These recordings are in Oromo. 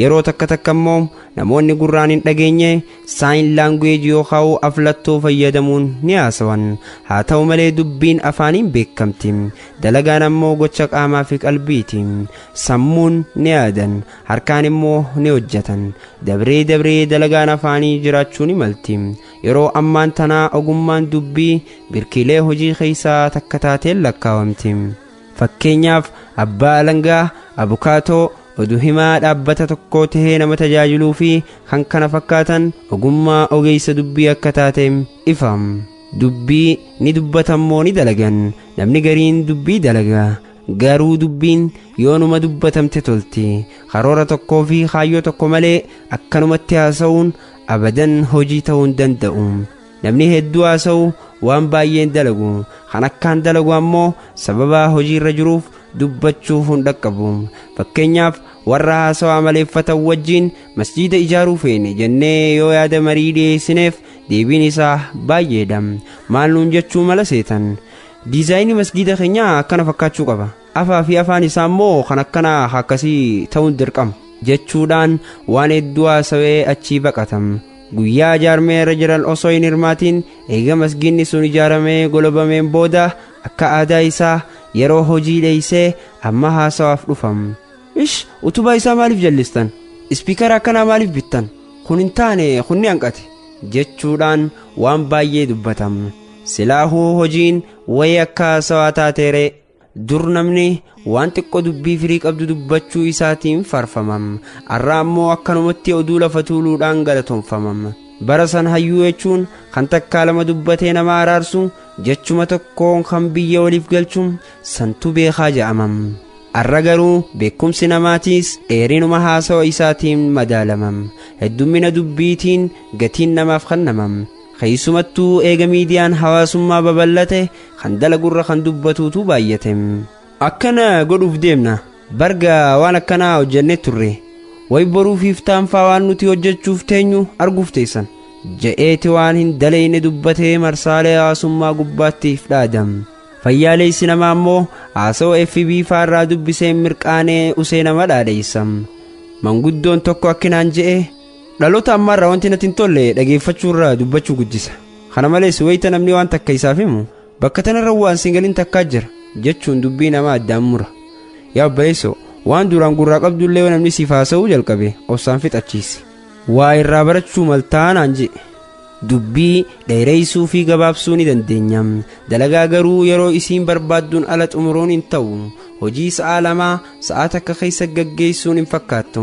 Yeroo takka takka immoo namoonni gurraan hin dhageenye saayin laanguweeji yookaan aflattoo fayyadamuun ni haasawan. Haa ta'u malee dubbiin afaaniin beekamti. Dalagaan ammoo gocha qaamaa fi qalbiiti. Sammuun ni yaadan, harkaan immoo ni hojjetan. Dabree dabree dalagaan afaanii jiraachuu ni malti. Yeroo ammaan tanaa ogummaan dubbii birkiilee hojii keessaa takka taateen lakkaawamti. Fakkeenyaaf abbaa alangaa, abukaatoo, Odu himaa dhaabbata tokkoo tahee nama tajaajiluu fi kan kana fakkaatan ogummaa ogeessa dubbii akka taate ifa. Dubbii ni dubbatan moo ni dalagan namni gariin dubbii dalaga garuu dubbiin yoonuma dubbatamte tolti karoora tokkoo fi kaayyoo tokko malee akkanumatti haasa'uun abadan hojii ta'uu hin danda'u. Namni hedduu haasa'u waan baay'een dalagu kan akkaan dalagu ammoo sababaa hojiirra jiruuf dubbachuuf hin dhaqqabu. Fakkeenyaaf warra haasawaa maleeffatan wajjiin masjiida ijaaruu feene jennee yoo yaada marii dhiyeessineef deebiin isaa baay'eedha. Maal nuun jechuu mala seetan? Diizaayinii masgiida keenyaa akkana fakkaachuu qaba. Afaa fi afaan isaa immoo kan akkanaa akkasii ta'uun dirqama. jechuudhaan waan hedduu haasawee achii baqatam. Guyyaa ijaarmee irra jiran osoo hin hirmaatiin eega masgiinni sun ijaaramee golobameen booda akka aadaa isaa yeroo hojii dheeysee amma haasawaaf dhufam. Ish utubaa isaa maaliif jallistan? Ispiikara akkanaa maaliif bittan? Kun hin taane kun ni hanqate. jechuudhaan waan baay'ee dubbatam. Silaahuu hojiin wayii akka haasawaa taateeree. dur namni waan xiqqoo dubbii firii qabdu dubbachuu isaatiin farfamam arra ammoo akkanumatti oduu lafa tuuluudhaan galatonfamam bara san hayyuu jechuun kan takkaa lama dubbatee nama araarsu jechuma tokkoon kan biyya waliif galchu santu beekaa ja'amam arra garuu beekumsi namaatiis dheerinuma haasawa isaatiin madaalamam heddummina dubbiitiin gatiin namaaf kennamam Keessumattuu eega miidiyaan hawaasummaa babal'ate kan dalagurra kan dubbatuutu baay'ate. Akkana godhuuf deemna. Barga waan akkanaa hojjannee turre. Way boruuf iftaanfaa waan nuti hojjechuuf teenyu arguuf teessan. Ja'eeti waan hin daleeyne dubbatee marsaalee hawaasummaa gubbaatti if dhaadam. Fayyaaleessi namaa immoo haasawaa FB faarraa dubbisee mirqaanee usee nama dhaadheessam. Manguddoon tokko akkinaan je'e Dhaloota ammaarraa wanti natti hin tolle dhageeffachuurra dubbachuu guddisa. Kana malees wayita namni waan takka isaaf himu bakka tanarra waan siin galin takkaa jira jechuun dubbii namaa addaan mura. Yaa obboleessoo waan duraan gurraa qabdullee yoo namni siif haasa'uu jalqabe obsaan fixachiisi. Waa irraa barachuu maltaa naan jedhe. Dubbii dheereessuu fi gabaabsuu ni dandeenya. Dalagaa garuu yeroo isiin barbaadduun ala xumuruun hin ta'u. Hojii sa'aa lamaa sa'aa takka keessa gaggeessuun hin fakkaattu.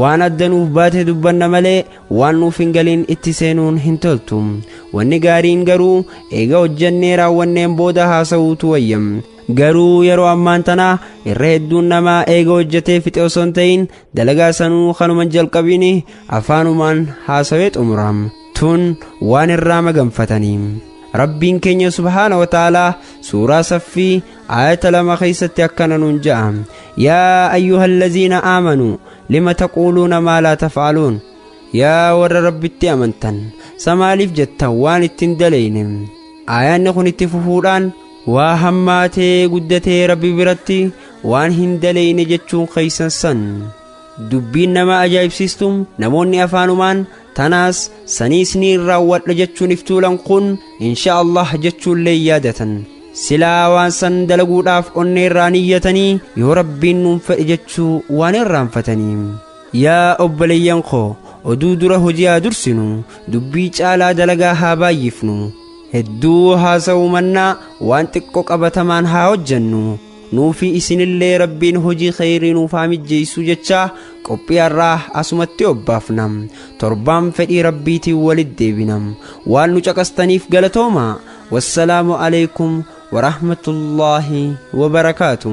Waan adda nuuf baate dubbanna malee waan nuuf hin galiin itti seenuun hin toltu. Wanni gaariin garuu eega hojjannee raawwanneen booda haasa'uutu wayya. Garuu yeroo ammaan tana irra hedduun namaa eega hojjatee fixe osoo hin ta'in dalagaa sanuu kanuma hin jalqabin afaanumaan haasawee xumura. Tun waan irraa maganfatanii. Rabbiin keenya subhaana wa ta'aalaa suuraa saffii aayata lama keessatti akkana nuun ja'a yaa ayyuhallaziina aamanuu lima taquuluuna maa laa tafaaluun yaa warra rabbitti amantan samaaliif jettan waan ittiin daleyne aayaanni kun itti fufuudhaan waa hammaatee guddatee rabbi biratti waan hin daleyne jechuun keeysan san dubbiin nama ajaa'ibsiistu namoonni afaanumaan Tanaas sanii isniin raawwadha jechuun if tuulan kun insha Allah jechuullee yaadatan. Silaa waan san dalaguudhaaf onnee irraa niyyatanii yoo rabbiin nuun fedhe jechuu waan irraanfatanii. Yaa obboleeyyan koo oduu dura hojii haa dursinu dubbii caalaa dalagaa haa baay'ifnu hedduu haasa'uu mannaa waan xiqqo qabatamaan haa hojjannu nuufi isinillee rabbiin hojii kheyrii nuuf haa mijjeessu jechaa qophii har'aa asumatti obbaafna torbaan fedhii rabbiitiin walit deebina waan nu caqastaniif galatooma wassalaamu aleykum warahmatullaahi wabarakaatu